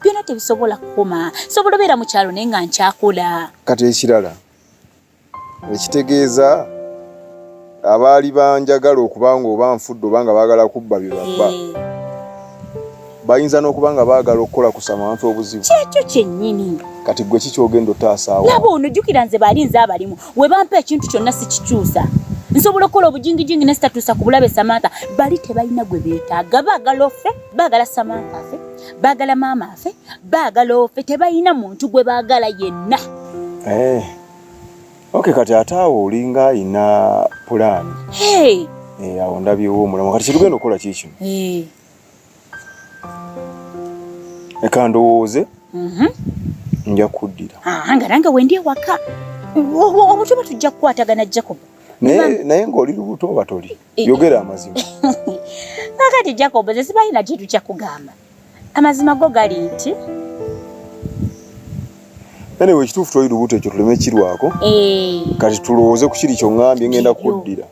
byona tebisobola kukoma sobola obeera mu kyalo naye nga nkyakula kati ekirala ekitegeeza abaali banjagala okuba nga oba nfudde oba nga baagala kubba bye babba eh. bayinza n'okuba nga baagala okukola kusama wantu obuzibu kyekyo kyennyini kati gwe kikyogenda otaasaawo laba ono jjukira nze baali nze abalimu we bampa ekintu kyonna sikikyusa nsobola okukola obujingijingi nesitatuusa ku bulabe samantha bali tebalina gwe beetaaga baagala ofe baagala samantha afe baagala maama afe baagala ofe tebalina muntu gwe baagala yenna eh, ok kati ate awo olinga alina pulaani eh, awo ndabyewo omulamu kati kyetugenda okukola kiikino eh. leka ndowooze mhm. nja kuddira ah, nga nange wendi ewaka obutuba tujja kukwatagana jacob naye ng'oli lubuto oba toli yogera amazima akati jacob ze sibalina kintu kyakugamba amazima go gali nti anyway ekituufu toli lubuto ekyo tuleme kirwako eh. kati tulowooze ku kiri kyoŋambye ngenda kuddira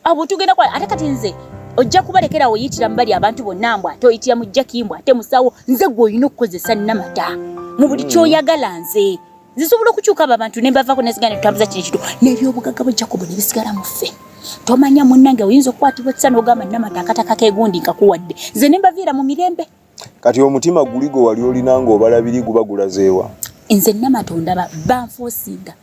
abo tugenda kwa ate kati nze ojja kubalekera woyitira mu bali abantu bonna mbwa ate oyitira mu jjakimbwa ate musawo nze gwe olina okukozesa namata mu buli mm. kyoyagala nze zisobola okukyuka abo abantu ne bavako ne zigana tutambuza kino kitu n'ebyobugaga bwa Jacob ne bisigala mu ffe tomanya munnange oyinza okukwatibwa ekisa n'ogamba namata akataka kegundi nkakuwadde nze ne mbaviira mu mirembe kati omutima guli gwe wali olina ng'obalabiri guba gulazeewa nze namata ondaba banfoosinga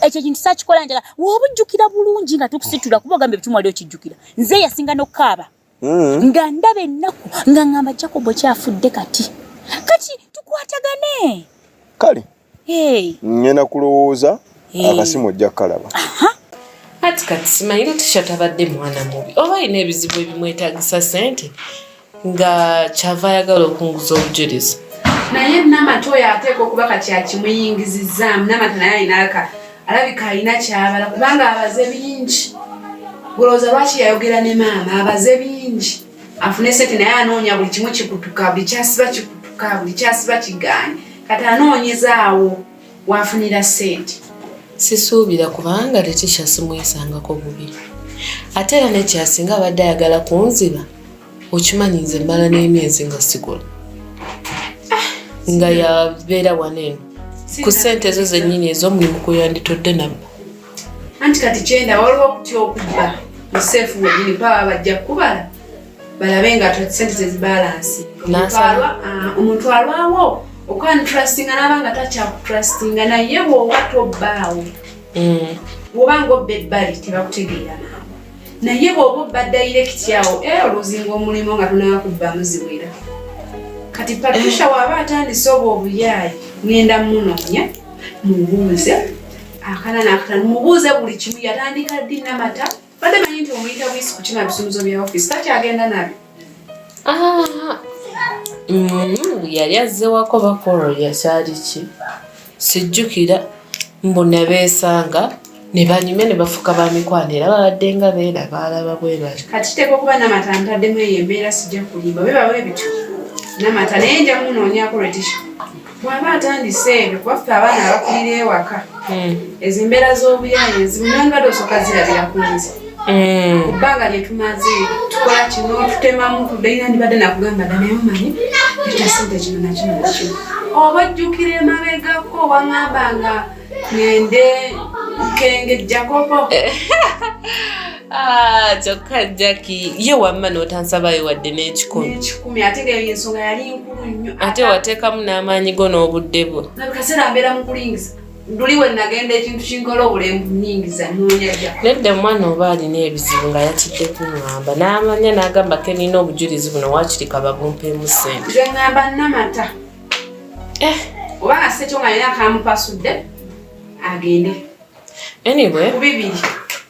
ekyo ekintu sakikola njala woba ojjukira bulungi nga tukusitula kuba ogambye ebitumwali okijjukira nze yasinga n'okukaaba mm. nga ndaba ennaku nga ngamba jacobo kyafudde kati kati tukwatagane kale hey. ngenda kulowooza hey. akasimu ojja kukalaba kati kati simanyire tishatabadde mwana mubi oba alina ebizibu ebimwetagisa sente nga kyava ayagala okunguza obujulizi naye namata oyo ateeka okuba kati akimuyingizizaamu namata naye ayinaaka alabika alina kyabala kubanga abaze bingi olowooza lwaki yayogera ne maama abaze bingi afune sente naye anoonya buli kimu kikutuka buli kyasiba kikutuka buli kyasiba kigaanyi kati anoonyezaawo waafunira sente sisuubira kubanga letisha simwesangako bubi ate era nekyasinga abadde ayagala kunziba okimanyi nze mbala n'emyezi nga sigula ah, nga yabeera wano eno ku sente ezo zennyini ez'omulimu kwe yanditodde nabba anti kati kyenda waliwo okutya okubba museefu wenyini baba bajja kukubala balabe nga sente zezibalansi ah, omuntu alwawo okwantrustinga naba nga takyakutrustinga naye bwoba tobbaawo mm. bwoba nga obba ebbali tebakutegeera naye bwoba obba dayirekiti awo era oluzinga omulimu nga tunaba kubbamu ziwera kati patricia eh. waaba atandise obwo obuyaayi ngenda munoonya mubuuze akana nakatano mubuuze buli kimu yatandika ddi namata badde manyi nti omuyita bwisi kukima bisumuzo bya ofisi takyagenda nabyo Ah, mm, yali azzewako bakolo yakyali ki sijjukira mbu nebeesanga ne banyumya ne bafuka ba mikwano era babadde nga beera baalaba bwe bali kati teeka okuba namata ntaddemu eyo embeera sijja kulimba bwe bawe bityo namata naye nja munoonyako retisha bw'aba atandise ebyo kuba ffe abaana abakulira ewaka hmm. ezo embeera z'obuyaaye ezimu nandibadde osooka zirabira ku nze hmm. ku bbanga lye tumaze tukola kino tutemamu tuddeira ndibadde nakugamba dda naye omanyi eta sente kino nakino nakino oba ojjukira emabegako waŋamba nga ngende kengejjakopo Ah, kyokka jaki ye wamma n'otansabayo wadde n'ekikumi ate nga eyo ensonga yali nkulu nnyo ate wateekamu n'amaanyi go n'obudde bwo nabikaseera mbeera mu kulingiza luli we nagenda ekintu kinkola obulembu nyingiza nonyaja nedda omwana oba alina ebizibu nga yatidde kuŋamba n'amanya n'agamba ke nina obujulizi buno wakirika babumpeemu sente nze ŋamba namata eh. oba nga sekyo nga nina kamupasudde agende anyway bibiri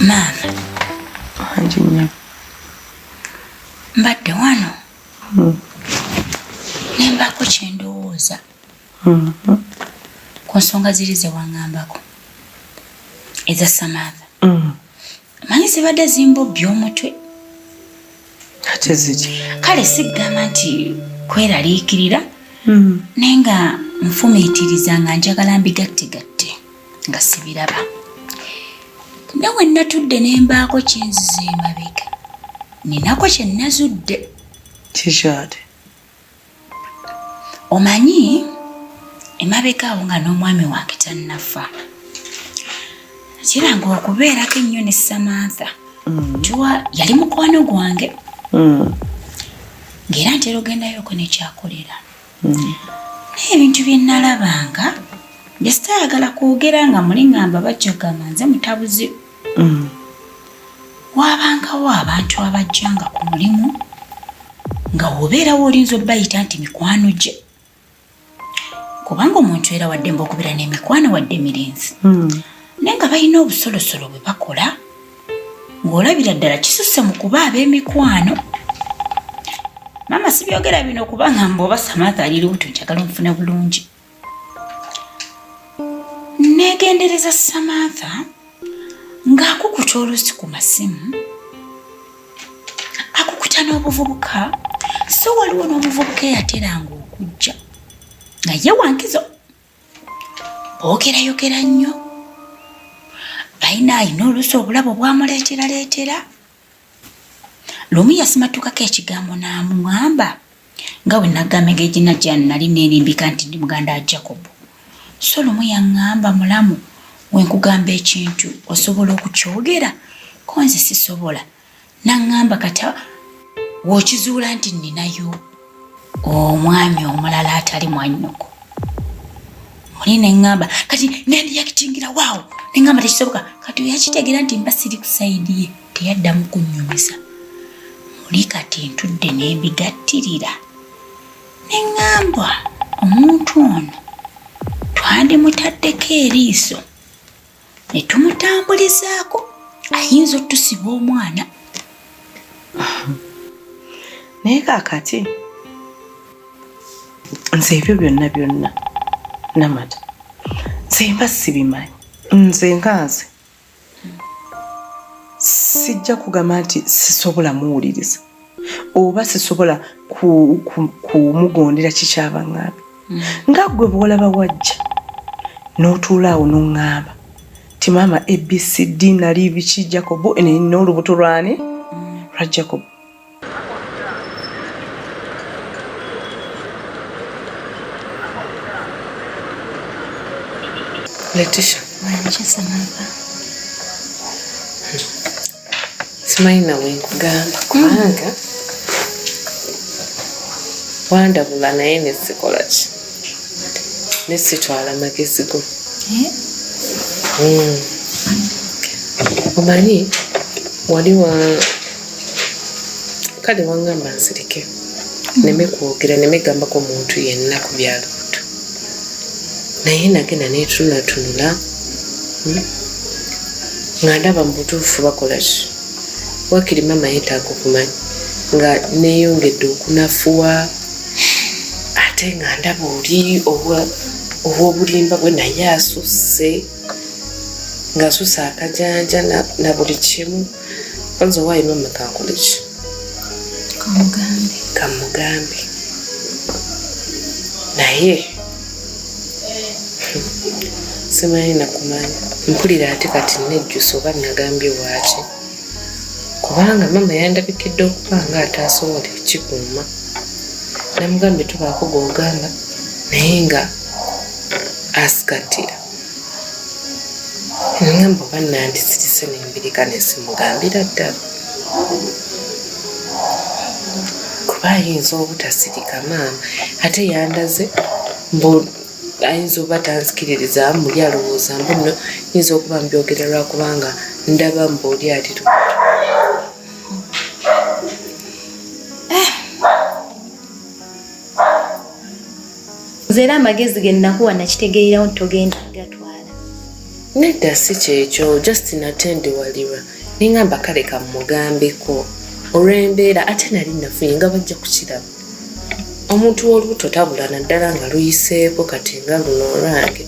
maama wangi nnyo mbadde wano hmm. nembaako kyendowooza hmm. ku nsonga ziri zewaŋambako eza samatha hmm. manyi zibadde zimbobbi omutwe ate ziki kale sigamba nti kweraliikirira hmm. naye nga nfumiitiriza nga njagala mbigattegatte nga sibiraba ne we natudde ne mbaako kyinziza emabega ninako kye nazudde kikyate omanyi emabega awo nga n'omwami wange tannafa kiranga okubeerako ennyo ne samantha mm. tuwa yali mukwano gwange mm. ng'era ntera ogendayoko nekyakolera mm. naye ebintu bye nnalabanga jesitayagala kwogera nga muli ngamba bajjagamba nze mutabuzi Mm. Waabangawo abantu abajjanga ku mulimu nga obeerawo olinza obayita nti mikwano gye kubanga omuntu era waddemba okubeera n'emikwano wadde emirinzi mm. naye nga balina obusolosolo bwe bakola ng'olabira ddala kisusse mu kuba ab'emikwano maama sibyogera bino kubanga mbu oba samatha ali lubuto njagala omufuna bulungi Neegendereza Samantha ng'akukuta olusi ku masimu akukuta n'obuvubuka so waliwo n'omuvubuka eyateranga okujja nga ye wankizo boogerayogera nnyo balina alina olusi obulabo bwamuleeteraleetera Lumu yasimattukako ekigambo n'amuŋamba nga bwe nagamba engeri gye najja nali neerimbika nti ndi muganda wa Jacobo. So lumu yaŋŋamba mulamu we nkugamba ekintu osobola okukyogera ko nze sisobola. N'aŋŋamba kata w'okizuula nti nninayo. omwami omulala atali mwannyoko muli neŋŋamba kati nendiyakitingira waawo neŋŋamba tekisoboka kati oyakitegeera nti mba siri ku sayidi ye teyaddamu kunnyumiza muli kati ntudde nembigattirira neŋŋambwa omuntu ono twandimutaddeko eriiso ne tumutambulizaako ayinza otusiba omwana naye kakati nze ebyo byonna byonna namata nze mba sibimanyi nze nga nze sijja kugamba nti sisobola muwuliriza oba sisobola kumugondera kikyabaŋŋambi mm. nga ggwe bwolaba wajja n'otuula awo n'oŋŋamba ti maama abcd nali biki jacobo nina olubuto lwani mm. lwa jacobo letisha simanyi nawe nkugamba kubanga wandabula naye nesikola ki nesitwala magezi go eh? hmm. omanyi wali wa kale wangamba nsirike neme kwogera neme gambako muntu yenna ku byalo naye nagenda netunatunula hmm? nga ndaba mubutuufu bakola ki wakiri mama yetaaga okumanya nga neyongedde okunafuwa ate nga ndaba oli obwobulimba bwe naye asusse ngasusa akajanja na buli kimu Kwanza why mama kankulichi? Kamugambe. Kamugambe. Naye simanyi nakumanya mpulira ate kati nejjusa oba nagambye waaki kubanga maama yandabikidde okuba nga ataasobola ekikuuma namugambye tubaako gwogamba naye nga asikatira nangamba oba nandisirise nembirika nesimugambira ddala kuba ayinza obutasirika maama ate yandaze mbu ayinza oba tanzikiririza muli alowooza mbu no yinza okuba mbyogera lwakubanga ndaba mbu oli aliro nze era amagezi ge nnakuwa nakitegeerawo nti togenda gatwala nedda si kyekyo just nate ndi waliwa nengamba kale kamugambeko olw'embeera ate nali nafuye nga bajja kukiraba omuntu w'olubuto tabula naddala nga luyiseeko kati nga luno olwange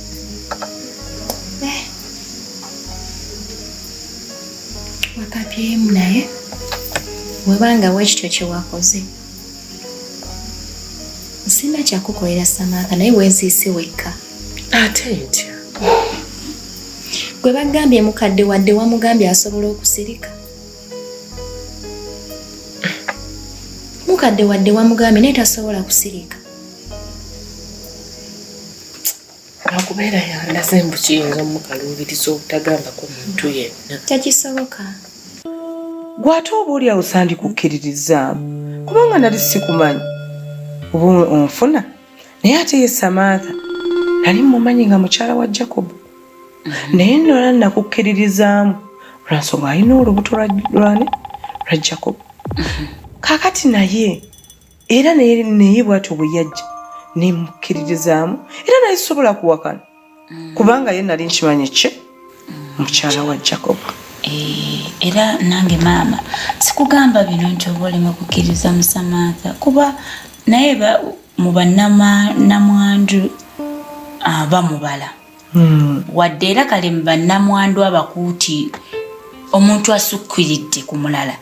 wakabyemu naye webanga wekityo kyewakoze sirina kyakukolera samaaka naye weeziise wekka ate ntya gwe bagambye mukadde wadde wamugambye asobola okusirika mukadde wadde wamugambye naye tasobola kusirika lwakubeera yandaze mbu kiyinza omukaluubiriza obutagambako muntu yenna tekisoboka gwe ate oba oli awo sandikukkiririzaamu kubanga nali sikumanyi oba onfuna naye ate ye samantha nali mumanyi nga mukyala wa jacob mm-hmm. naye nola nakukkiririzaamu lwansonga alina olubuto lwani lwa jacob mm-hmm. kakati naye era naye bwatyo bwe yajja nemukkiririzaamu era naye sobola kuwakana mm. kubanga ye nali nkimanyi ki mm. mukyala wa jacob eh, era nange maama sikugamba bino nti oba olema kukkiriza musamantha kuba naye mu banamwandu ah, bamubala Hmm. wadde era kale mu bannamwandu abakuuti omuntu asukkiridde ku mulala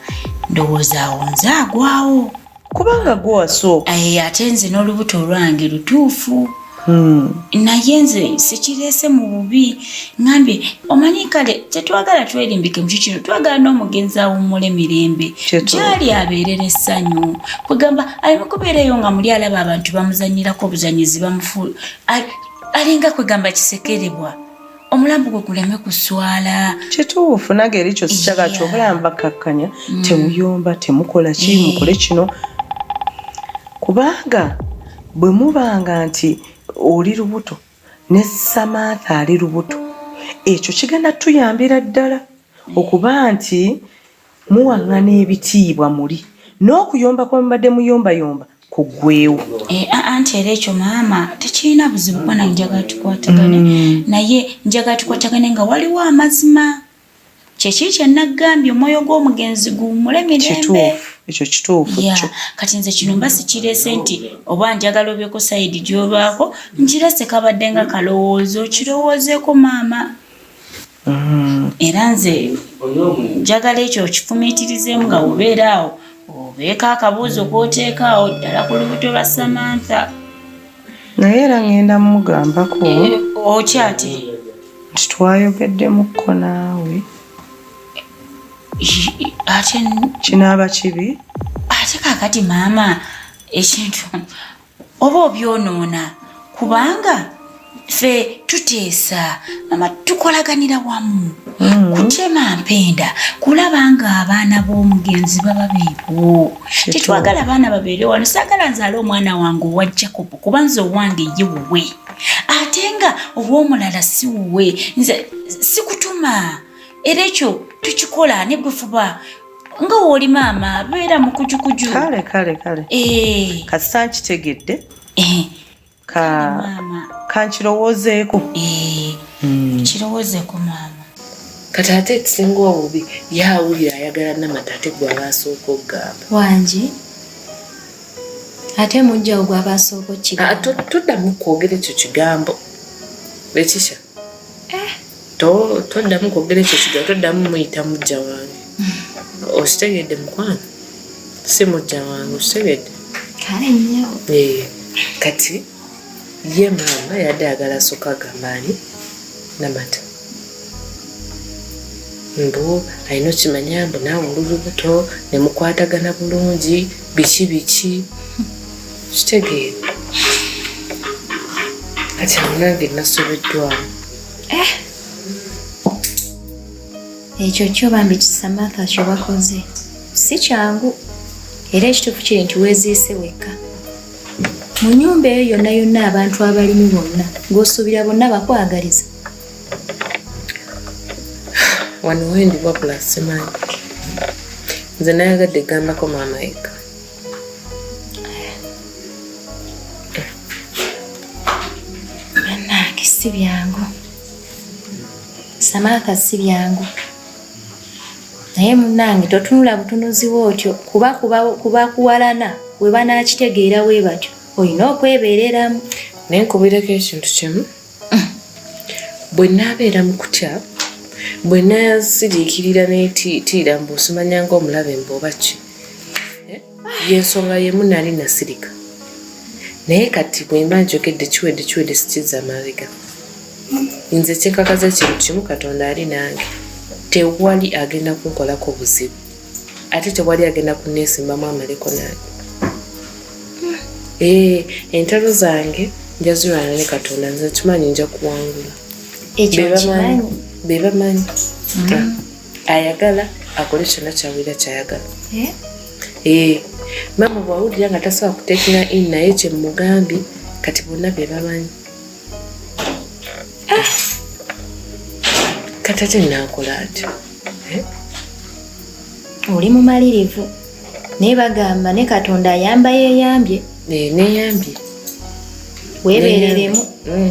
ndowooza awo nze agwawo kubanga gwe wasooka eh, ate nze n'olubuto olwange lutuufu hmm. naye nze sikireese mu bubi ngambye omanyi kale tetwagala twerimbike mukyo kino twagala n'omugenzi awummule mirembe gyali abeerera essanyu kwegamba aleme kubeereyo nga muli alaba abantu bamuzanyirako obuzanyizi bamufu alinga kwegamba kisekerebwa omulambo gwe guleme kuswala kituufu nage eri kyo sikyagala kyobulaba mbakkakkanya mm. temuyomba temukola ki eh. mukole kino kubanga bwe mubanga nti oli lubuto ne samantha ali lubuto ekyo kigenda tuyambira ddala okuba nti Muwang'ana ebitiibwa muli. N'okuyomba kwe mubadde muyombayomba kuggweewo. Eh, anti era ekyo maama tekirina buzibu kuba nange njagala tukwatagane mm. naye njagala tukwatagane nga waliwo amazima kyekiri kyenagambye omwoyo gw'omugenzi guwumule mirembe ekyo kituufu kyo kati nze kino mba sikireese nti oba njagala obyeko sayidi gyolwako nkireese kabadde nga kalowoozo kirowoozeko maama Mm-hmm. era nze njagala ekyo okifumiitirizemu nga obeera awo obeeko akabuuzo kwoteeka awo ddala ku lubuto lwa samantha naye era ngenda mumugambako eh, okyati nti twayogeddemuko naawe ate kinaaba kibi ate kakati maama ekintu oba obyonoona kubanga ffe tuteesa mama tukolaganira wamu mm. kutema mpenda kulaba nga abaana b'omugenzi baba beebo tetwagala abaana babeere wano saagala nzaala omwana wange owa jacob kuba nze owange ye wuwe ate nga ow'omulala si wuwe nze sikutuma era ekyo tukikola ne bwefuba nga wooli maama beera mukujukuju kale kale kale eh. kasita nkitegedde eh. kankirowoozeeko eh. hmm. kirowoozeeko maama kati ate ekisinga obubi yawulira ayagala namata ate gwe abaasooka okugamba wangi ate mujjawo gwe abaasooka okugamba ah, tuddamu kwogera ekyo kigambo ekikya eh. toddamu kwogera ekyo kiga toddamu muyita mujja wange okitegedde mukwano si mujja wange okitegedde eh, kati ye maama yadde agala soka agamba ani namata mbu alina okimanya mbu naawe olububuto nemukwatagana bulungi biki biki kitegeere kati awo nange nasobeddwamu eh! ekyo kyo bambi kisamatha kyo bakoze si kyangu era ekituufu kiri nti weeziise wekka mu nyumba eyo yonna yonna abantu abalimu bonna ng'osuubira bonna bakwagaliza wano wendi wabula simanyi nze nayagadde gambako maama yekka bannange si byangu samaaka si byangu naye munange totunula butunuziwo otyo kuba kubakuwalana webanakitegeera webatyo olina okwebereramu naye nkubireko ekintu kimu bwe naabeera mu kutya bwe nasiriikirira netiitiira mbu osimanya ngaomulabe mbu oba ki eh, yensonga yemu nali nasirika naye kati bwemba njogedde kiwedde kiwedde sikiza mabega nze kyenkakaza ekintu kimu katonda ali nange tewali agenda kunkolako buzibu ate tewali agenda kuneesimbamu amaleko nange ee eh, entalo zange njazirwana ne katonda nze kimanyi nja kuwangula be bamanyi mm. ayagala akole kyonna kyawulira kyayagala ee eh? eh, maama bwawulira nga tasobola kutekinga in naye kyemugambye kati bonna be bamanyi Ah! kati ate naakola atyo eh? oli mumalirivu naye bagamba ne katonda ayamba yeyambye eh, neyambye webereremu mm.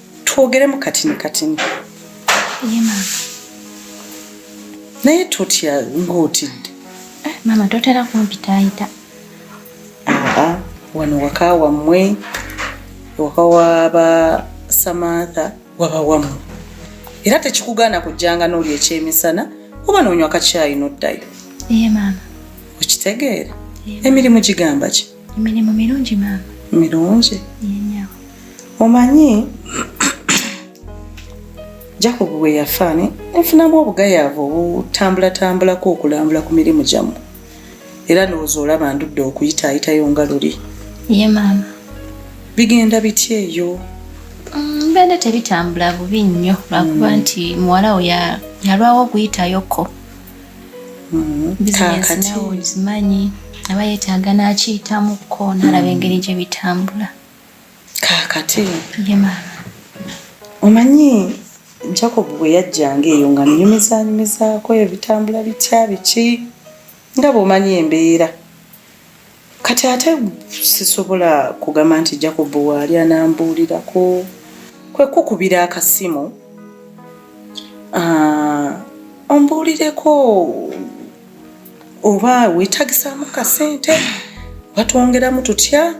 twogeremu katini katini naye totya ng'otidde eh, maama totera kumpitaayita aa wano waka wammwe waka waba samantha waba wammwe era tekikugaana kujjanga n'oli ekyemisana oba noonywa kakyayi n'oddayo ye maama okitegeera emirimu gigamba ki Emirimu mirungi maama. Mirungi? Yenyawo. Omanyi Jacob bwe yafa ne nfunamu obugayaavu obutambulatambulako okulambula ku mirimu gyammwe era ndowooza olaba ndudde okuyitaayitayo nga luli. Ye maama. Bigenda bitya eyo? Mm, bende tebitambula bubi nnyo lwakuba mm. nti muwala wo yalwawo okuyitayoko mm-hmm. bizinesi nawe ozimanyi aba yetaaga n'akiyitamuko n'alaba engeri gye bitambula kaakati ye maama omanyi jacob bwe yajjanga eyo nga nnyumizanyumizaako ebitambula bitya biki nga bw'omanyi embeera kati ate sisobola kugamba nti jacob waali anambuulirako kwekukubira akasimu ah, ombuulireko oba wetagisaamu kasente batwongeramu tutya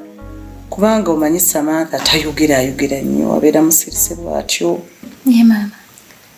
kubanga omanyi samantha tayogera ayogera nnyo abeera musirise bwatyo